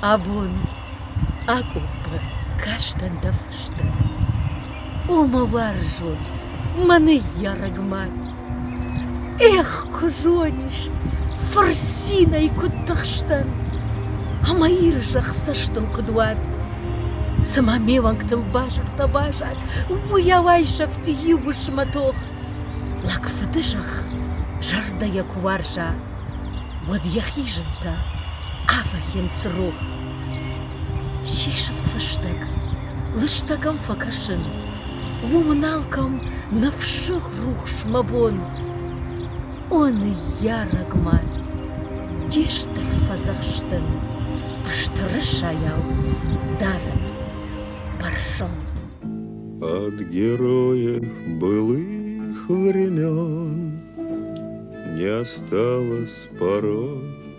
Абон акъоппы кастӕн дӕ фыстӕн. О, мӕ уарзон, мӕ ныййарӕг мад! Эх, куы зонис, фырцинӕй куыд тыхстӕн, ӕмӕ Иры зӕхх цӕстыл куыд уад! Цымӕ ме уӕнгтыл базыртӕ базад, уыйау айсӕфти иу уысмы тох. Лӕг фыды зӕхх зӕрдӕйӕ куы уарза, уӕд йӕхи зынтӕ авӕййынц рох. Сисын фыстӕг, лыстӕг ӕм фӕкӕсын. Уымӕн алкӕм ныфсыг рухс мӕ бон. О, ныййарӕг мад, де стыр фӕдзӕхстӕн, Ыстыры сайау дарын бӕрзонд. От героев былых времен Не осталось пород